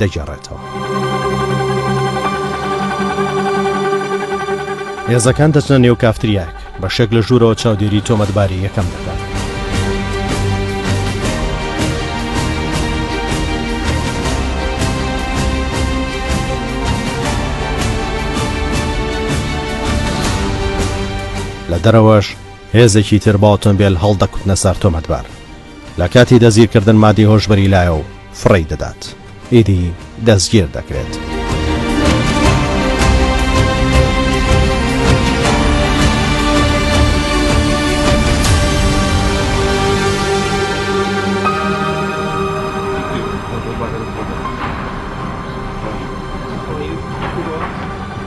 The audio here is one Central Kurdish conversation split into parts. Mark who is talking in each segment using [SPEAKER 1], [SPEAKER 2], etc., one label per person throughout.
[SPEAKER 1] دەگێڕێتەوە. هێزەکان دەچنە نێو کافتریاک، بەشێک لە ژوورەوە چاودێری تۆمەتباری یەکەم دەکات. لە دەرەوەش هێزێکی تر بە ئۆتۆمبێل هەڵدەکوتنە سەر تۆمەتبار. لە کاتی دەستگیرکردن مادەی هۆشبەری لایە و فڕێی دەدات، ئیدی دەستگیر دەکرێت.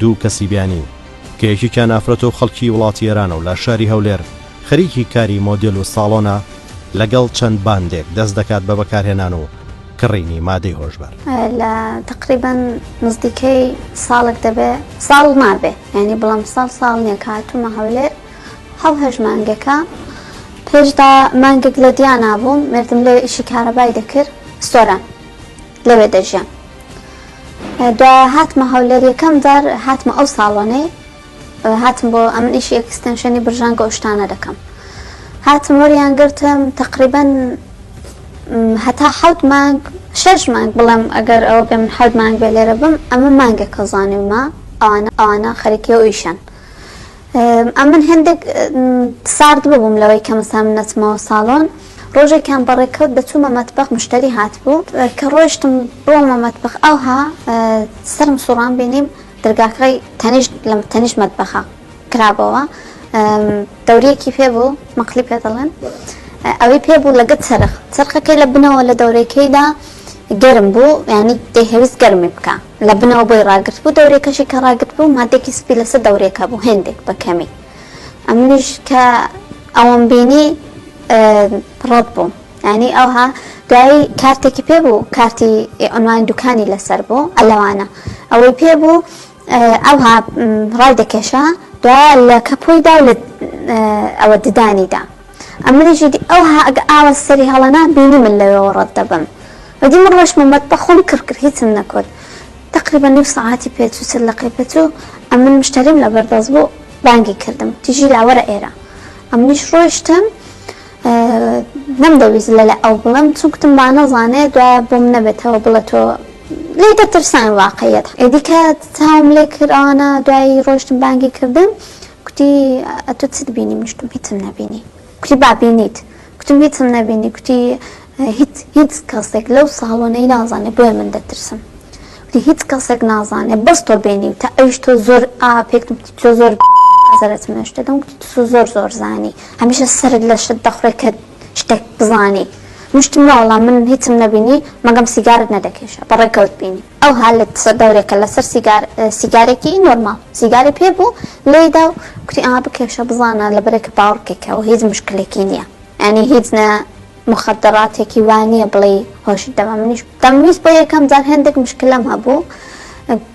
[SPEAKER 1] دوو کەسی بیانی کە یەکێکیان ئافرەتە و خەڵکی وڵاتی ئێرانە و لە شاری هەولێر خەریکی کاری مۆدێل و ساڵۆنە، لەگەڵ چەند باندێک دەست دەکات بە بەکارهێنان و کڕینی مادەی هۆشبەر. لە تەقریبەن نزدیکەی ساڵێک دەبێ ساڵ مابێ یانی بڵام ساڵ ساڵ نیە کە هاتوومە هەولێر حەو هەشت مانگێکە پێشدا مانگێک لە دیانا بووم مردم لێ ئیشی کارەبای دەکرد سۆران لەوێ دەژیان دا هاتمە هەولێر یەکەم جار هاتمە ئەو ساڵۆنەی هاتم بۆ ئەمن ئیشی ئەکستەنشەنی برژانگە ئەوشتانە دەکەم هاتم وەریان گرتم تقریبن هەتا حەوت مانگ شەش مانگ بڵێم ئەگەر ئەوە بێ من حەوت مانگ بێ لێرە بم ئەمە مانگێک کەزانیومە ئەوانە ئەوانە خەرکی ئەو ئیشان ئەمن هێندێک سارد ببووم لەوەی کە مەسا من نەچمەوە ساڵۆن ڕۆژێکیان بە ڕێکەوت دە چوومە مەتبەخ مشتەری هاتبوو کە ڕۆیشتم بۆمە مەتبەخ ئەوها سەرم سوڕان بینیم دەرگاکەی تەنیشت لە تەنیشت مەتبەخە کرابەوە دەوریەکی پێ بوو مەقلی پێ دەڵێن ئەوەی پێ بوو لەگەت سەرخ سەرخەکەی لە بنەوە لە دەورەکەیدا گەرم بوو ینی دەهویست گەرمی بکە لە بنەوە بۆی ڕاگرتبوو دەورێکەشی کە ڕاگرتبوو مادێکی سپی لەسەر دەورێکە بوو هێندێک بە کەمی ئەمنیش کە ئەوەم بینی ڕەد بووم یانی ئەوها دوایی کارتێکی پێ بوو کارتی ئۆنلاین دوکانی لەسەر بوو ئەلەوانە ئەوەی پێ بوو ئەوها ڕای دەکێشا دوایە لە کەپۆیدا و لە ئەوە ددانیدا ئە منیشی دی ئە وها گە ئاوە سری هە ڵە نا بینی من لە وێوە ڕەت دە بم و دی من ڕۆشت مە مە تبە خۆم کڕ کرد هیچم نە کورد تقریبا نیو سەعاتی پێ چوو چل دەقەی پێ چوو ئە من مشتەریم لە بەر دەست بوو بانگی کردم و تیژی لا وەرە ئێرە ئە منیش ڕۆشتم نەم دە ویست لە لە ئە و بڵم چون کتم با نە زانێ دوایە بۆم نە بێتە وە بڵە تۆ لێ دە ترسان واقعیت ئە دیکە چاوم لێ کرد ئەوانە دوایی ڕۆشتم بانگی کردم کوتی، ئەتوو چت بینی؟ منیش وتم، هیچم نەبینی. کوتی، با بینیت. کوتم، هیچم نەبینی. کوتی، هیچ، هیچ کەسێک لەو ساڵۆنەی نازانێ بۆیە من دەترسم. کوتی، هیچ کەسێک نازانێ بەس تۆ بینیوتە، ئەویش تۆ زۆر ئا پێکتم کوتی، تۆ زۆر قەزەرەت منەش دەدەم. کوتی، تسو زۆر زۆر زانی. هەمیشە سەرت لە شت دەخورێ کە شتێک بزانی. منیش وتم، نەوەڵا من هیچم نەبینی، مەگەم سیگارەت نەدەکێشا. بەڕێکەوت بینیم. ئەو هالت سەر دەورێکە لەسەر سیگار سیگارێکی نۆرماڵ سیگاری پێ بوو لێی دا و کوتی ئا بکێشە بزانە لەبەرێکە باوڕکێکە و هیچ مشکلێکی نییە یانی هیچ نە مخدراتێکی وا نییە بڵێ هۆشت دەما منیش دەمویست بۆ یەکەم جار هێندێک مشکلەم هەبوو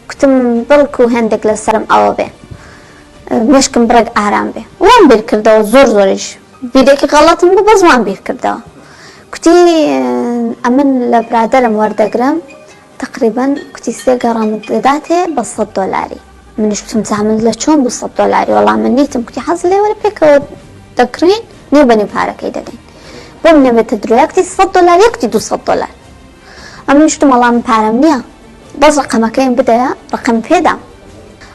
[SPEAKER 1] کوتم بڵک و هێندێک لەسەرم ئەوە بێ مشکم بڕێک ئارام بێ وام بیر کردەوە زۆر زۆریش بیرێکی غەڵەتم بوو بەس وام بیر کردەوە کوتی ئەمن لە برادەرم وەردەگرم تەقریبەن کوتی سێ گەڕامت دەداتێ بە سەد دۆلاری منیش کوتم جا من لە چۆن بوو سەد دۆلاری وەڵا من نیتم کوتی حەز لێ وەرە پێکەوە دەکڕین نیو بە نیو پارەکەی دەدەین بۆم نەبێتە درۆیا کوتی سەد دۆلار یەکتی دوو سەد دۆلار ئەمنیش کوتم وەڵا من پارەم نییە بەس ڕقەمەکەیم بدەیە ڕقەم پێدام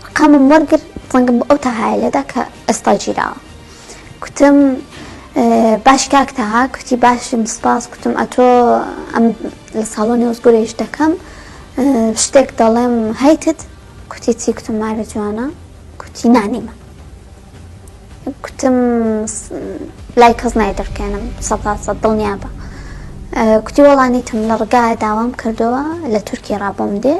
[SPEAKER 1] ڕقەمم وەرگر زەنگم بۆ ئەو تەهایە لێدا کە ئێستا گیراوە کوتم باش کاک تەها کوتی باشم سپاس کوتم ئەتۆ ئەم لە ساڵۆنی وەزگورە ئیش دەکەم شتێک دەڵێم هەیتت کوتی چی کوتم مارە جوانە کوتی نانیمە کوتم لای کەس نای دەرکێنم سەدا سەد دڵنیا بە کوتی وەڵانیتم لە ڕگا داوام کردەوە لە تورکی ڕابۆم دێ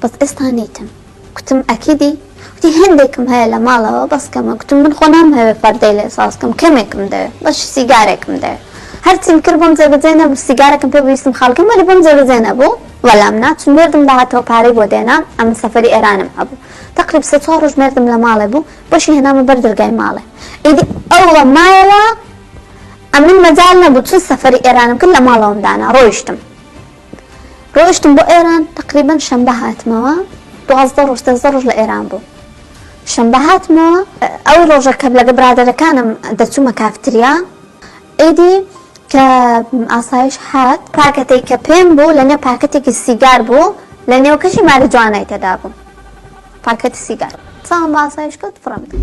[SPEAKER 1] بەس ئێستا نیتم گوتم ئەکیدی؟ گوتی هێندێکم هەیە لە ماڵەوە بەس کەمە، گوتم من خۆ نامهەوێ پەردەی لێ ساز بکەم کەمێکم دەوێ بەشی سیگارێکم دەوێ هەرچیم کرد بۆم جێبەجێ نەبوو سیگارەکەم پێ بوو ویستم خاڵ کەم وەلی بۆم جێبەجێ نەبوو وەلام نا چون مێردم داهاتەوە پارەی بۆ دێنام ئەمن سەفەری ئێرانم هەبوو تەقریب سێ چوار ڕۆژ مێردم لە ماڵێ بوو بەشی هێنامە بەر دەرگای ماڵێ ئیدی ئەو وە مایەوە ئەمن مەجال نەبوو چون سەفەری ئێرانم کرد لە ماڵەوەم دانا ڕۆیشتم. ڕۆیشتم بۆ ئێران تەقریبەن شەمبە هاتمەوە دوازدە ڕۆژ ترەزدە ڕۆژ لە ئێران بووم شەمبە هاتمەوە ئەو ڕۆژە کە لەگە برادەرەکانم دەچوومە کافتریا ئیدی کە ئاسایش هات پاکەتێک کە پێم بوو لەنێو پاکەتێکی سیگار بوو لە نێوکەشی ماری جوانای تێدا بوو پاکەتی سیگار چاوم بە ئاسایش کەوت فڕم کرد.